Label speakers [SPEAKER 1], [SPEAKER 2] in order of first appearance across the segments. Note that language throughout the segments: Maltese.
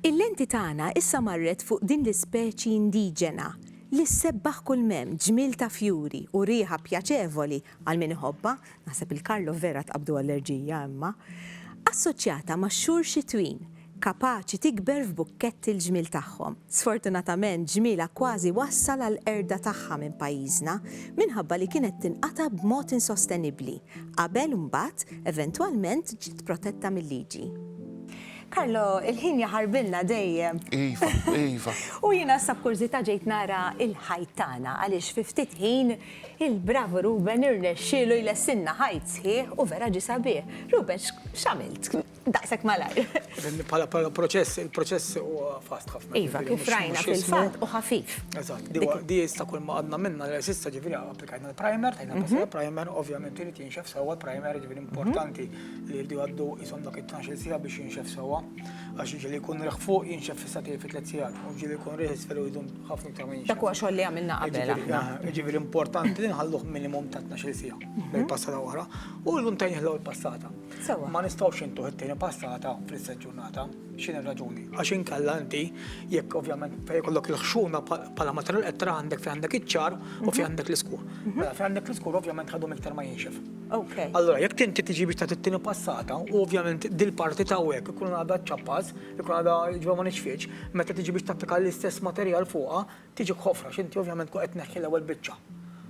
[SPEAKER 1] Il-lenti tagħna issa marret fuq din l-ispeċi indiġena li ssebbaħ kull mem ġmiel ta' fjuri u riħa pjaċevoli għal min iħobba, naħseb il-Karlo vera tqabdu allerġija imma, assoċjata max-xhur xitwin kapaċi tikber f'bukketti l-ġmiel tagħhom. Sfortunatament ġmielha kważi wassal għall-qerda tagħha minn pajjiżna minħabba li kienet tinqata' b'mod insostenibbli, qabel mbagħad eventwalment ġiet protetta mil-liġi. Carlo, il-ħin jaħarbilna dejjem. Iva, iva.
[SPEAKER 2] U jiena issa
[SPEAKER 1] b'kurżità ġejt nara l-ħajt tagħna għaliex fi ftit ħin il-bravu Ruben irnexxielu jlessilna ħajt sħiħ u vera ġie sabiħ. Ruben, x'għamilt? Daqshekk malajr. Bħala bħala
[SPEAKER 3] proċess, il-proċess huwa fast ħafna. Iva, kif rajna
[SPEAKER 1] fil-fatt u ħafif. Eżatt, di huwa- di
[SPEAKER 3] issa kull ma għadna minna l sissa ġifieri applikajna l-primer, tajna passi primer, ovvjament irid jinxef sewwa l-primer, ġifieri importanti li jirdu għaddu jisom dak it-12 sija biex jinxef sewwa. Għax ġili jkun riħ fuq jinxef fissa tiegħi fi tliet sigħat, u ġili jkun riħ isfel u jdum ħafna iktar ma jinxef. Dak huwa xogħol li għamilna qabel
[SPEAKER 1] aħna. Ġifieri- Ġifieri importanti
[SPEAKER 3] li nħalluh minimum ta' 12 sija, bħal passata oħra, u l-lum tajnieh l-ewwel passata. Sewwa. Ma nistgħux intuh it-tieni passata fl-istess ġurnata. X'inhi r-raġuni? Għax inkella inti, jekk ovvjament fejn ikollok il-ħxuna bħala materjal qed tara għandek fejn għandek iċ-ċar u fejn għandek l-iskur. Mela fejn għandek l-iskur ovvjament ħadhom iktar ma jinxef. Allura jekk inti tiġi biex tagħti t-tieni passata u ovvjament dil-parti t'hawnhekk ikun għadha ċċappas, ikun għadha jiġifieri ma nixfitx, meta tiġi biex tapplika l-istess materjal fuqha, Tiġik ħofra x'inti ovvjament tkun qed tneħħi l-ewwel biċċa.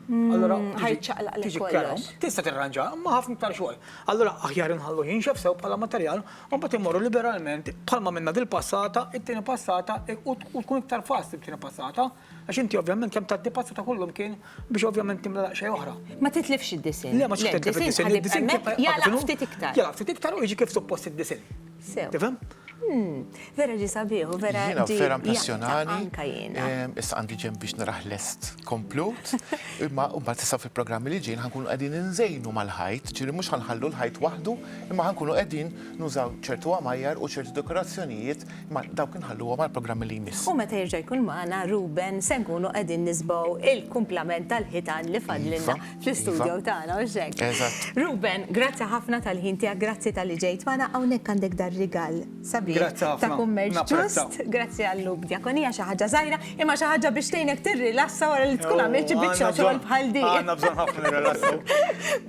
[SPEAKER 3] Allura ħajċaqlaq tiġi
[SPEAKER 1] kerhom. Tista' tirranġa, imma
[SPEAKER 3] ħafna iktar xogħol. Allura aħjar inħallu jinxef sew bħala materjal, u mbagħad immorru liberalment bħalma minna dil-passata, it-tieni passata u tkun iktar fast it-tieni passata, għax inti ovvjament kemm tgħaddi passata kullum kien biex ovvjament timla xejn oħra. Ma titlifx id-disinn.
[SPEAKER 1] Le ma titlifx
[SPEAKER 3] id-disinn. Jala
[SPEAKER 1] ftit iktar. Jala ftit iktar u jiġi kif
[SPEAKER 3] suppost id-disinn. Sew. Tifhem? Hmm,
[SPEAKER 1] vera ġi sabiħ u vera. Jiena vera impressjonani.
[SPEAKER 2] Anka jiena. Ehm,
[SPEAKER 1] issa għandi ġem biex
[SPEAKER 2] naraħ lest komplut. Imma mbagħad issa fil-programmi li ġejn ħankunu qegħdin inżejnu mal-ħajt, ġieli mhux ħanħallu l-ħajt waħdu, imma ħankunu qegħdin nużaw ċertu għamajjar u ċertu dekorazzjonijiet imma dawk inħalluhom għall-programmi li jmiss. U meta jerġa' jkun magħna
[SPEAKER 1] Ruben se nkunu qegħdin nisbgħu il-kumplament tal-ħitan li fadlilna. Iva. fl-istudio iva. tagħna u xek. Ruben,
[SPEAKER 2] grazzi
[SPEAKER 1] ħafna tal-ħin tiegħek, grazzi tal-li ġejt magħna hawnhekk għandek dar rigal sabi ta'
[SPEAKER 3] kummerċ ġust,
[SPEAKER 1] grazzi għall-lub djakonija xi ħaġa żgħira, imma xi ħaġa biex tgħinek tirrilassa wara li tkun għamilt xi biċċa xogħol bħal din. Għandna bżonn ħafna nirrilassaw.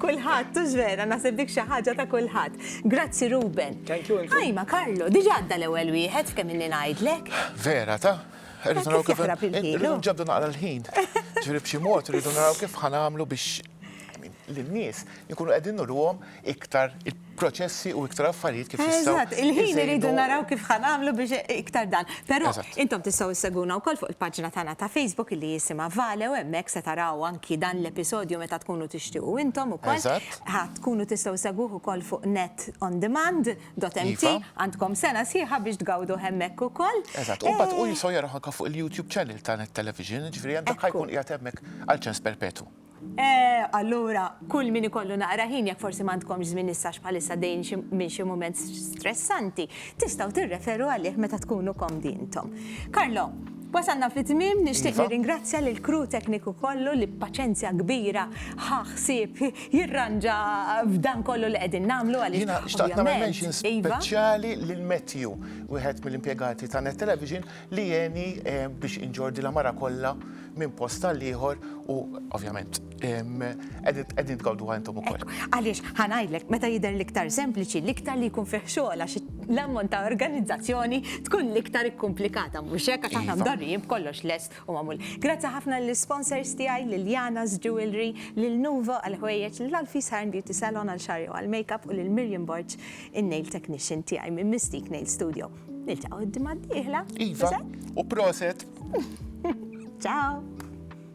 [SPEAKER 3] Kulħadd tux
[SPEAKER 1] vera naħseb dik xi ħaġa ta' kulħadd. Grazzi Ruben. Thank you. Ħajma
[SPEAKER 3] Karlo, diġà
[SPEAKER 1] għadda l-ewwel wieħed f'kemm inni ngħidlek. Vera ta'?
[SPEAKER 2] Irridu naraw kif irridu nġabdu
[SPEAKER 1] naqra l-ħin.
[SPEAKER 2] Ġifieri b'xi mod irridu naraw kif ħanamlu biex lin-nies ikunu qegħdin nurruhom iktar proċessi u iktar affarijiet kif jistgħu. Eżatt, il-ħin irridu
[SPEAKER 1] naraw kif ħanamlu biex iktar dan. Però intom tistgħu sseguna wkoll fuq il-paġna tagħna ta' Facebook li jisimha Vale u hemmhekk se taraw anki dan l-episodju meta tkunu tixtiequ intom ukoll. Eżatt. Tkunu tistgħu ssegwuh ukoll fuq net on demand. Dot MT, Iva. għandkom sena sħiħa biex tgawdu hemmhekk ukoll. Eżatt, u mbagħad hu Eh, jistgħu
[SPEAKER 2] jaraw anke fuq il-YouTube channel ta' Net Television, jiġifieri hemm dak Ekku. ħajkun qiegħed hemmhekk għal ċens perpetwu. eh, allura
[SPEAKER 1] kull min ikollu naqra ħin jekk forsi m'għandkomx żmien issa għax bħalissa għaddejjin xi- minn xi mument stressanti, tistgħu tirreferu għalih meta tkunu komdi intom. Carlo, Wasalna fit-tmiem, nixtieq nirringrazzja lill-crew tekniku kollu li b'paċenzja kbira ħa ħsieb jirranġa f'dan kollu li qegħdin nagħmlu għaliex ovvjament. Jiena xtaqt nagħmel mention
[SPEAKER 2] speċjali lil Matthew, wieħed mill-impjegati ta' Net Television li għeni biex inġorr din l-għamara kollha minn post għall-ieħor u ovvjament. Qegħdin tgawdu għajntom ukoll. Għaliex ħanajdlek
[SPEAKER 1] meta jidher l-iktar sempliċi, l-iktar li jkun fih xogħol għax l-ammont ta' organizzazzjoni tkun l-iktar ikkumplikata mhux hekk għax aħna mdorrijin b'kollox lest u magħmul. Grazzi ħafna lill-sponsors tiegħi lil Jana's Jewelry, lil Nuvo għal ħwejjeġ, lil Alfie's Hair and Beauty Salon għal xagħri u għal makeup u lil Miriam Borg in-nail technician tiegħi minn Mystique Nail Studio. Niltaqgħu d-dimgħa d-dieħla.
[SPEAKER 2] Iva,
[SPEAKER 1] u proset.
[SPEAKER 2] Ciao.